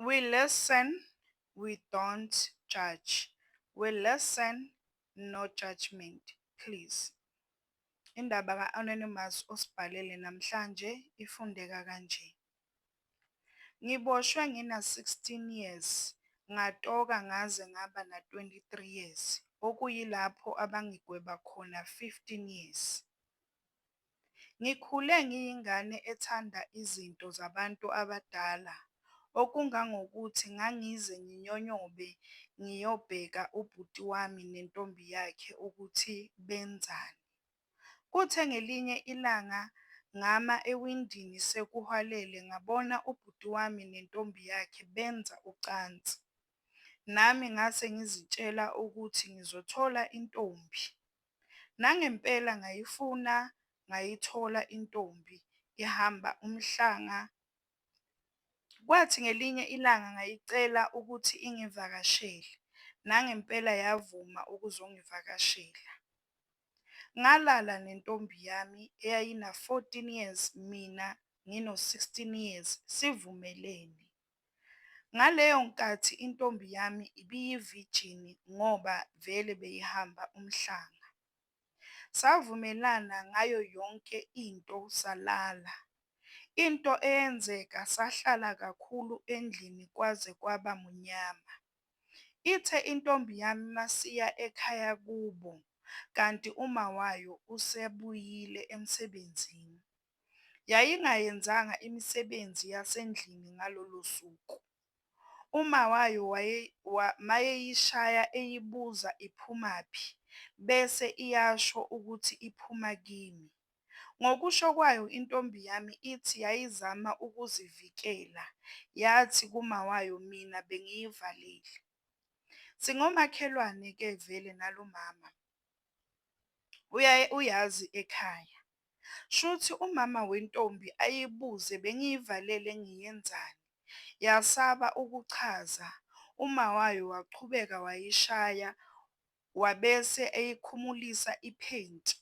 We listen, we don't judge, we listen, no judgement please. Indaba ka-Anonymous osibhalele namhlanje ifundeka kanje, Ngiboshwe ngina-16 years ngatoka ngaze ngaba na-23 years okuyilapho abangigweba khona 15 years. Ngikhule ngiyingane ethanda izinto zabantu abadala, okungangokuthi ngangize nginyonyobe ngiyobheka ubhuti wami nentombi yakhe ukuthi benzani. Kuthe ngelinye ilanga ngama ewindini sekuhwalele ngabona ubhuti wami nentombi yakhe benza ucansi. Nami ngase ngizitshela ukuthi ngizothola intombi. Nangempela ngayifuna ngayithola intombi ihamba umhlanga kwathi ngelinye ilanga ngayicela ukuthi ingivakashele nangempela yavuma ukuzongivakashela. Ngalala nentombi yami eyayina-14 years mina ngino-16 years sivumelene. Ngaleyo nkathi intombi yami ibiyivijini ngoba vele beyihamba umhlanga. Savumelana ngayo yonke into salala. Into eyenzeka sahlala kakhulu endlini kwaze kwaba munyama. Ithe intombi yami masiya ekhaya kubo kanti umawayo usebuyile emsebenzini. yayingayenzanga imisebenzi yasendlini ngalolo suku. Uma wayo mayeyishaya eyibuza iphumaphi bese iyasho ukuthi iphuma kimi. Ngokusho kwayo intombi yami ithi yayizama ukuzivikela yathi kumawayo mina bengiyivalile. Singomakhelwane ke vele nalomama uyazi ekhaya. Shuthi umama wentombi ayibuze bengiyivalele ngiyenzani. Yasaba ukuchaza. Umawayo waqhubeka wayishaya wabese eyikhumulisa iphenti.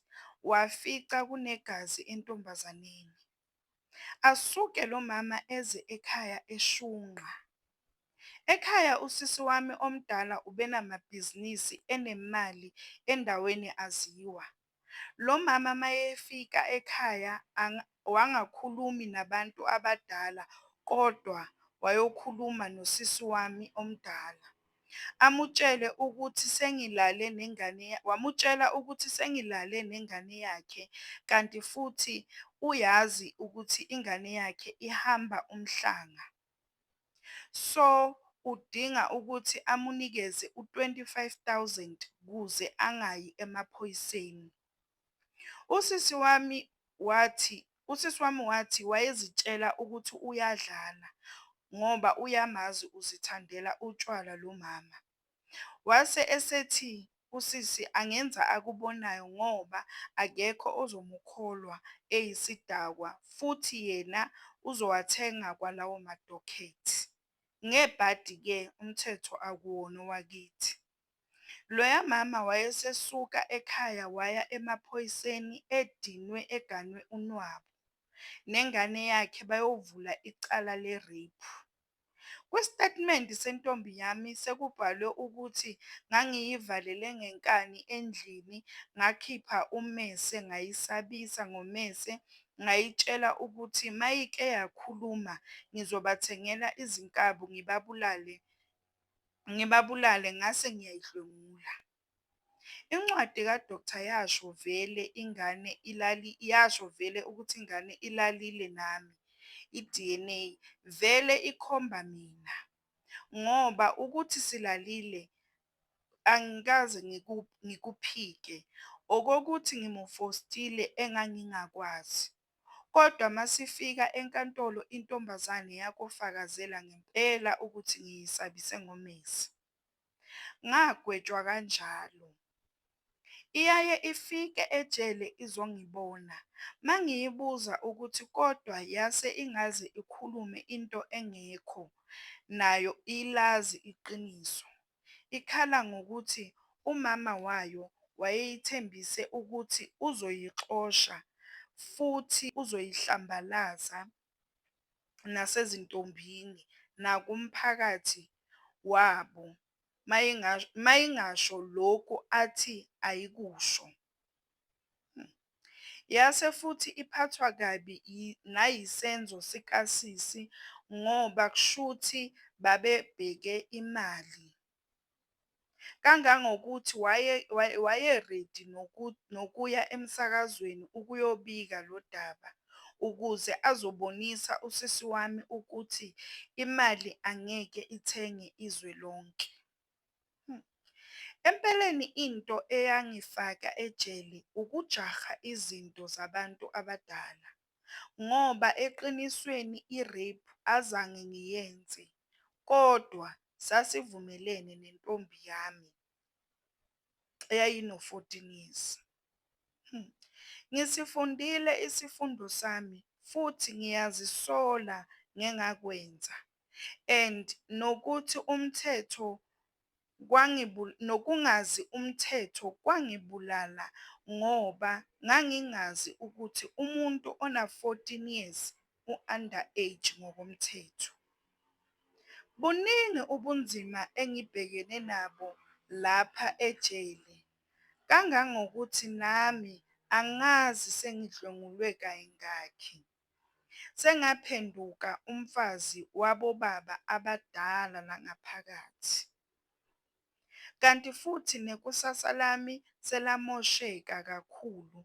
Wafica kunegazi entombazaneni. Asuke lomama eze ekhaya eshunqa. Ekhaya usisi wami omdala ubenamabhizinisi enemali endaweni aziwa. Lomama mayefika ekhaya wangakhulumi nabantu abadala kodwa wayokhuluma nosisi wami omdala. Amutshele ukuthi sengilale nengane wamutshela ukuthi sengilale nengane yakhe kanti futhi uyazi ukuthi ingane yakhe ihamba umhlanga. so udinga ukuthi amunikeze u 25000 kuze angayi emaphoyiseni. Usisi wami wathi usisi wami wathi wayezitshela ukuthi uyadlala ngoba uyamazi uzithandela utshwala lomama. Wase esethi usisi angenza akubonayo ngoba akekho ozomukholwa eyisidakwa futhi yena uzowathenga kwalawo madokhethi. Ngebhadi ke umthetho akuwona owakithi. Loya mama wayesesuka ekhaya waya emaphoyiseni edinwe eganwe unwabu. Nengane yakhe bayovula icala le rape. Kwisitatimende sentombi yami sekubhalwe ukuthi ngangiyivalele ngenkani endlini ngakhipha ummese ngayisabisa ngommese ngayitshela ukuthi mayike yakhuluma ngizobathengela izinkabi ngibabulale ngibabulale ngase ngiyayidlwengula. Incwadi ka Doctor yasho vele ingane ilali yasho vele ukuthi ingane ilalile nami I DNA vele ikhomba mina ngoba ukuthi silalile angikaze ngikuphike okokuthi ngimufostile engangingakwazi kodwa masifika enkantolo intombazane yakofakazela ngempela ukuthi ngiyisabise ngomese. Ngagwetshwa kanjalo. Iyaye ifike ejele izongibona, mangiyibuza ukuthi kodwa yase ingaze ikhulume into engekho nayo ilazi iqiniso. Ikhala ngokuthi umama wayo wayeyithembise ukuthi uzoyixosha futhi uzoyihlambalaza nasezintombini nakumphakathi wabo mayingasho lokhu athi ayikusho. Yase futhi iphathwa kabi nayisenzo sikasisi ngoba kushuthi babebheke imali. kangangokuthi wayeredi nokuya emsakazweni ukuyobika lo daba ukuze azobonisa usisi wami ukuthi imali angeke ithenge izwe lonke. Empeleni into eyangifaka ejele ukujaha izinto zabantu abadala. ngoba eqinisweni i-rape azange ngiyenze kodwa sasivumelene nentombi yami eyayino-fourteen years. Ngisifundile isifundo sami futhi ngiyazisola ngengakwenza and nokuthi umthetho nokungazi umthetho kwangibulala ngoba ngangingazi ukuthi umuntu ona 14 years u under age ngokomthetho. Buningi ubunzima engibhekene nabo lapha ejele kangangokuthi nami angazi sengidlwengulwe kayingakhi. Sengaphenduka umfazi wabobaba abadala la ngaphakathi. Kanti futhi nekusasa lami selamosheka kakhulu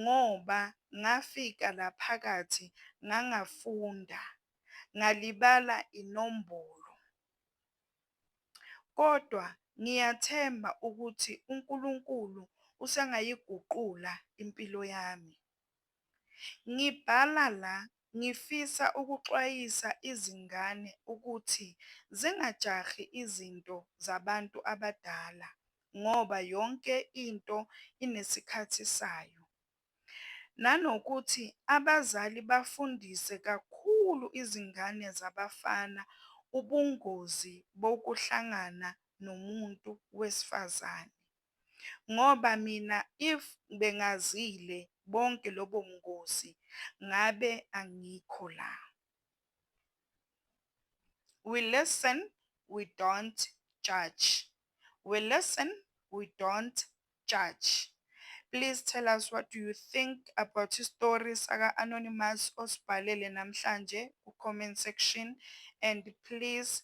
ngoba ngafika la phakathi ngangafunda, ngalibala inombolo. Kodwa ngiyathemba ukuthi uNkulunkulu usengayiguqula impilo yami. Ngibhala la ngifisa ukuxwayisa izingane ukuthi zingajahi izinto zabantu abadala ngoba yonke into inesikhathi sayo. Nanokuthi abazali bafundise kakhulu izingane zabafana ubungozi bokuhlangana nomuntu wesifazane. ngoba mina if bengazile bonke lobobungozi ngabe angikho la. We listen we don't judge we listen we don't judge please tell us what do you think about istory saka Anonymous osibhalele namhlanje ku comment section and please